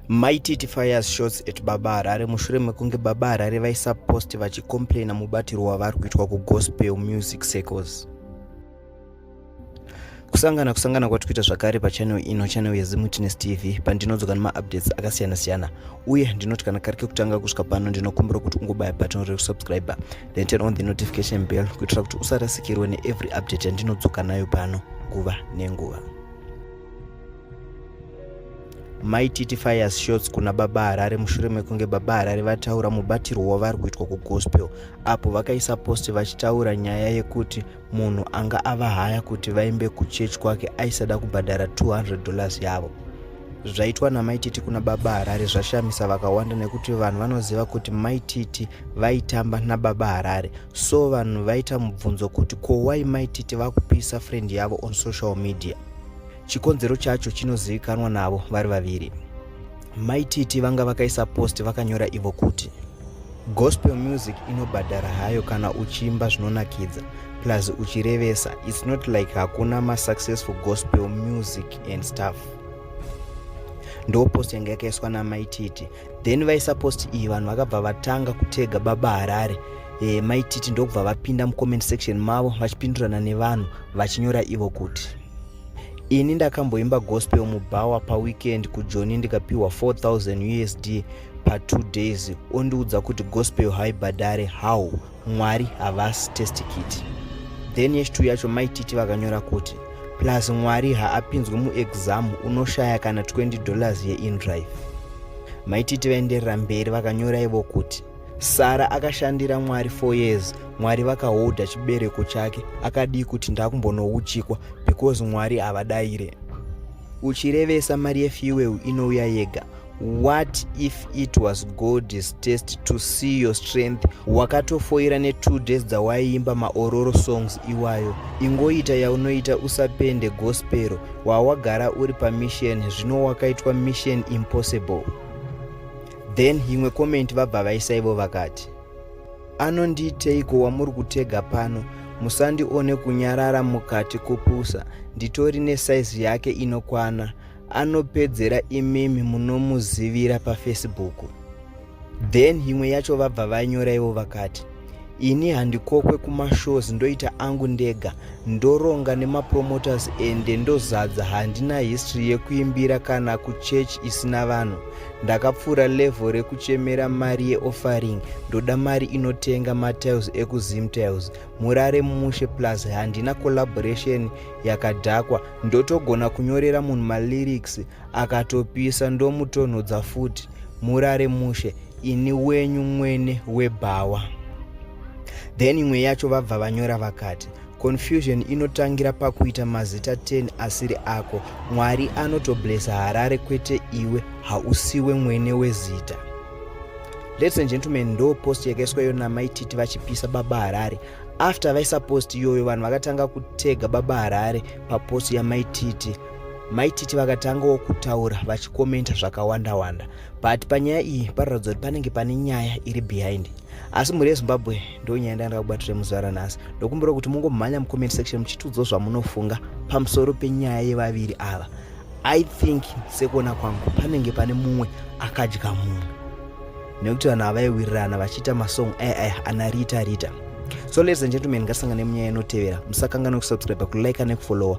maititi fires shots at baba harare mushure mekunge baba harare vaisa post vachicomplaina mubatirwo wavari kuitwa kugospel music circles kusangana kusangana kwati kuita zvakare pachanel ino chanel yezimwitness tv pandinodzoka nemaupdates akasiyana-siyana uye ndinoti kana kari kekutanga kusvika pano ndinokumbira kuti ungobaya button rekusubscriber then turn on the notification bell kuitira kuti usarasikirwe neevery update yandinodzoka nayo pano nguva nenguva mai titi fires shots kuna baba harare mushure mekunge baba harare vataura mubatirwo wavari kuitwa kugospel apo vakaisa post vachitaura nyaya yekuti munhu anga avahaya kuti vaimbe kuchurch kwake aisada kubhadhara 200 dollars yavo zvaitwa namai titi kuna baba harare zvashamisa vakawanda nekuti vanhu vanoziva kuti mai titi vaitamba nababa harare so vanhu vaita mubvunzo kuti ko wai mai titi vakupisa friend yavo on social media chikonzero chacho chinozivikanwa navo vari vaviri mai titi vanga vakaisa post vakanyora ivo kuti Gospel music inobhadhara hayo kana uchiimba zvinonakidza plus uchirevesa its not like hakuna masuccessful gospel music and stuff ndopost yanga yakaiswa namaititi then vaisa post iyi vanhu vakabva vatanga kutega baba harare e, maititi ndokubva vapinda mucomment section mavo vachipindurana nevanhu vachinyora ivo kuti ini ndakamboimba gospel mubhawa paweekend kujoni ndikapiwa 4000 usd pa two days ondiudza kuti gospel haibhadhare how mwari havasi testikiti then yechitwo yacho maititi vakanyora kuti plus mwari haapinzwe muexam unoshaya kana 20 dollars yeindrive maititi vaenderera mberi vakanyora ivo kuti sara akashandira mwari four years mwari vakahodha chibereko chake akadii kuti ndakumbonouchikwa because mwari havadaire uchirevesa mari yefuel inouya yega what if it was god's test to see your strength wakatofoira netwo days dzawaiimba maororo songs iwayo ingoita yaunoita usapende gospero wawagara uri pamisheni zvino wakaitwa mission impossible then imwe komenti vabva vaisa ivo vakati anondiiteiko wamuri kutega pano musandione kunyarara mukati kupusa nditori nesaizi yake inokwana anopedzera imimi munomuzivira pafacebook then imwe yacho vabva vanyora ivo vakati ini handikokwe kumashows ndoita angu ndega ndoronga nemapromoters ende ndozadza handina history yekuimbira kana kuchurch isina vanhu ndakapfuura level rekuchemera mari yeoffering ndoda mari inotenga matiles ekuzimtiles murare mushe plus handina collaboration yakadhakwa ndotogona kunyorera munhu malyrics akatopisa ndomutonhodza futi murare mushe ini wenyu mwene webhawa then imwe yacho vabva vanyora vakati confusion inotangira pakuita mazita 10 asiri ako mwari anotoblesa harare kwete iwe hausiwe mwene wezita ladies and gentlemen ndo post yakaiswa iyo namaititi vachipisa baba harare after vaisa post iyoyo vanhu vakatanga kutega baba harare papost yamaititi maititi vakatangawo kutaura vachikomenta zvakawanda wanda but panyaya iyi parikuratidza kuti panenge pane nyaya iri behind asi mhuri yezimbabwe ndo nyaya ndaenda kubatira muzuva ranhasi ndokumbira kuti mungomhanya mucomment section muchitiudzwa zvamunofunga pamusoro penyaya yevaviri ava i think sekuona kwangu panenge pane mumwe akadya mumwe nekuti vanhu avaiwirirana vachiita masong aya aya ana rita rita so ladies and gentlemen ngasangane munyaya inotevera musakanganwe kusubscribe kulike nekufollowa